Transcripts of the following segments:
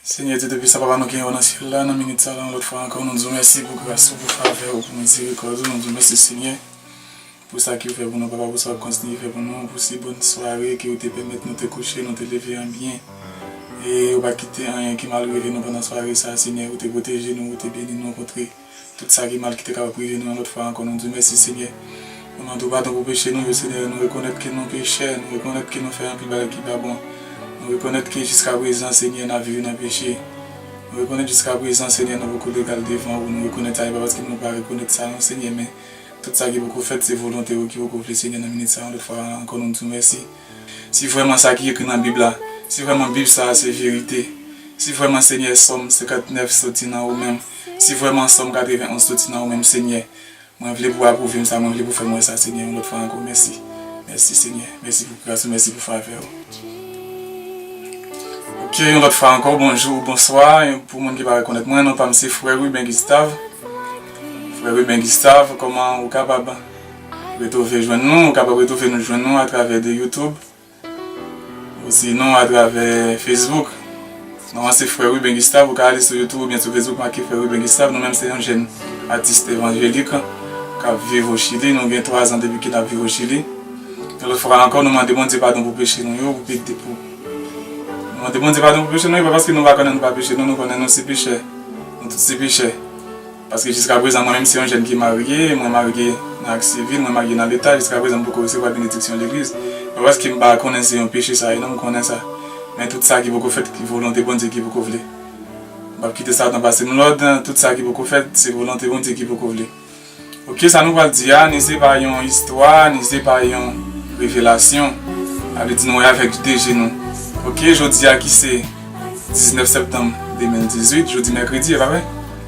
Senyè Dye Toupisan, Papa nou ki anwo nan syèl la, nan minit sa la yon lòt fwa ankò nou di w mèsi pou gras ou, pou favè ou, pou mizerikòd ou, nou di w mèsi Senyè pou sa ki ou fè pou nou papa, pou sa wap kontinye fè pou nou, pou si bòn sware ke ou te pèmèt nou te kouche, nou te leve an byen e ou pa kite anyen ki mal rive nou pandan sware sa Senyè, ou te pwoteje nou, ou te beni nou kontre. Tout sa ki mal ki te kapab rive nou yon lòt fwa ankò nou diw mèsi Senyè. Nou mandew padon pou peche nou yo Senyè nou rekonèt ke nou pechè nou rekonèt ke nou fè anpil bagay ki pa bon nou rekonèt ke jiskaprezan Senyè nap viv nan peche nou rekonèt jiskaprezan Senyè nou poko legal devan ou nou rekonèt sa e pa paske nou pa rekonèt sa non Senyè men tout sa ki poko fèt se volonte ou ki poko vle Senyè nan minit sa yon lòt fwa ankò nou diw mèsi. Si vrèman sa ki ekri nan bib la si vrèman bib sa a se verite si vrèman Senyè sòm 59 soti nan ou menm Si vrèman Sòm 91 soti nan ou menm, Senyè, mwen vle pou ou apwouve m sa, mwen vle pou w fè m wè sa, Senyè, yon lòt fwa ankò. Mèsi. Mèsi, Senyè. Mèsi pou gras ou. Mèsi pou favè ou. Ok, yon lòt fwa ankò, bonjou ou bonswa. Pou moun ki pa rekonèt mwen, non pa m se frè Ruben Gustave. Frè Ruben Gustave, kòman ou kapab retwouve jwenn nou? Ou kapab retwouve nou jwenn nou atravè de YouTube. Osinon atravè Facebook. Non an se Frè Ruben Gustave, ou ka ale sou YouTube oubyen sou Facebook make Frè Ruben Gustave. Nou menm se yon jèn atis evanjelik k ap viv o Chili. Nou gen twazan depi ke n ap viv o Chili. Yon lòt fwa ankò nou mande Bondye padon pou peche nou yo. Nou mande Bondye padon pou peche nou yo pa paske nou pa konnen nou pa peche non, nou konnen nou se pechè. Nou tout se pechè. Paske jiska prezan mwen menm se yon jèn ki marye, mwen marye nan ak sivil, mwen marye nan leta, jiska prezan m poko resevwa benediksyon legliz. Pa paske m pa konnen se yon peche sa ye non, m konnen sa. Men tout sa ki poko fèt, volonte Bondye ki poko vle. M pap kite satan pase m lòd, tout sa ki poko fèt, se volonte Bondye ki poko vle. Ok sa nou pral di a, ni se pa yon istwa, ni se pa yon revelasyon. A vle di nou wè avèk de je nou. Ok jodi a ki se 19 septanm 2018, jodi mèkredi e pa vre?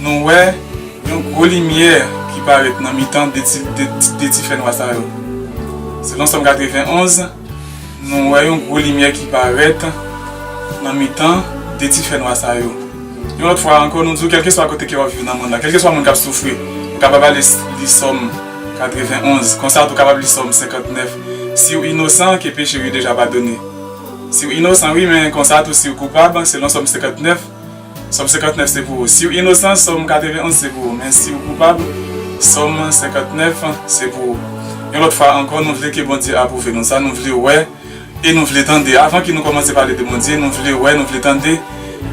Nou wè yon gwo limyè ki parèt nan mitan de ti fènwa sa yo. Selon Sòm 91, nou wè yon gwo limyè ki parèt nan mitan de ti fènwa sa yo. Yon lòt fwa ankò, nou di w kèlkeswa kote ke w ap viv nan mond la, kèlkeswa moun k ap soufri, ou kapab ale li Sòm 91. Konsa tou, ou kapab li Sòm 59. Si w inosan, ke peche w yo deja padone. Si w inosan, wi, men konsa tou si w koupab, selon Sòm 59, Sòm 59 se pou ou. Si w inosan, Sòm 91 se pou ou. Men si ou koupab, Sòm 59 se pou ou. Yon lòt fwa ankò, nou vle ke Bondye apwouve nou. Sa nou vle wè e nou vle tande. Avan ke nou kòmanse pale de Bondye, nou vle wè, nou vle tande.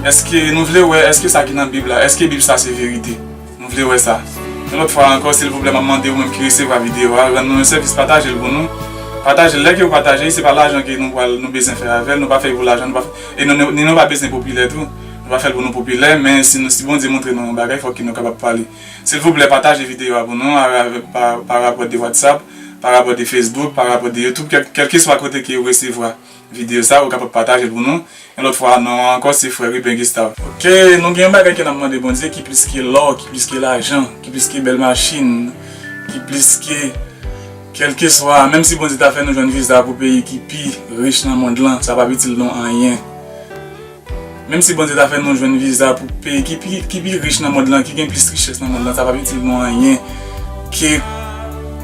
Èske nou vle wè, èske sa ki nan Bib la, èske Bib sa se verite? M vle wè sa. Yon lòt fwa ankò silvouplè map mande ou menm ki resevwa video a rann nou yon sèvis patajel pou nou patajel lè kew pataje se pa lajan ke nou pral nou bezyen fè avèl nou pa fèy pou lajan nou pa fè e nou ni nou pa bezyen popilè tou nou pa fèl pou nou popilè men si nou si Bondye moutre nou yon bagay fòk ke nou kapab pale silvouplè pataje video a pou nou aravèk pa parapò de WhatsApp parapò de Facebook parapò de YouTube kèlkeswa kote ke ou resevwa. Video sa ou kapab patajel pou nou yon lot fwa non an anko se frè Ruben Gustave. Ok nou gen yon bagay ke nap mande Bondye ki plis ke lò ki plis ke lajan ki plis ke bèl machin ki plis ke kelkeswa menm si Bondye ta fè nou jwenn viza pou peyi ki pi rich nan mond lan sa pap itil nou anyen. Menm si Bondye ta fè nou jwenn viza pou peyi ki pi ki pi rich nan mond lan, ki gen plis richès nan mond lan, sa pap itil nou anyen ke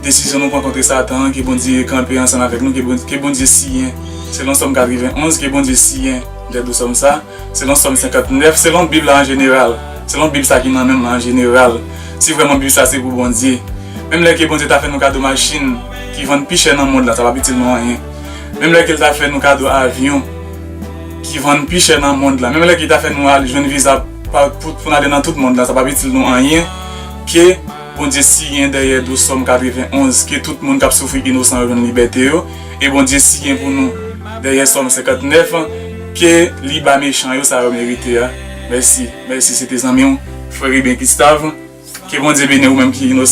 desizyon nou pran kontre satan an, ke Bondye kanpe ansanm avèk nou, ke Bondye siyen selon Sòm 91, ke Bondye siyen lèt ou Sòm sa, selon Sòm 59, selon Bib la an jeneral, selon Bib sa ki nan menm lan an jeneral, si vrèman Bib sa se pou Bondye. Menm lè ke Bondye ta fè nou kado machin ki vann pi chè nan mond lan, sa pap itil nou anyen. Menm lè ke l ta fè nou kado avyon. ki vann pi chè nan mond la menm lè ki ta fè nou al jwenn viza pou n ale nan tout mond la sa p ap itil nou anyen ke Bondye siyen dèyè dous Sòm 91 ke tout moun k ap soufri inosan yo jwenn libète yo e Bondye siyen pou nou dèyè Sòm 59 ke li ba mechan yo sa yo merite a mèsi mèsi se te zanmi w Frere Ben Gustave ke Bondye beni w ou menm ki inosan.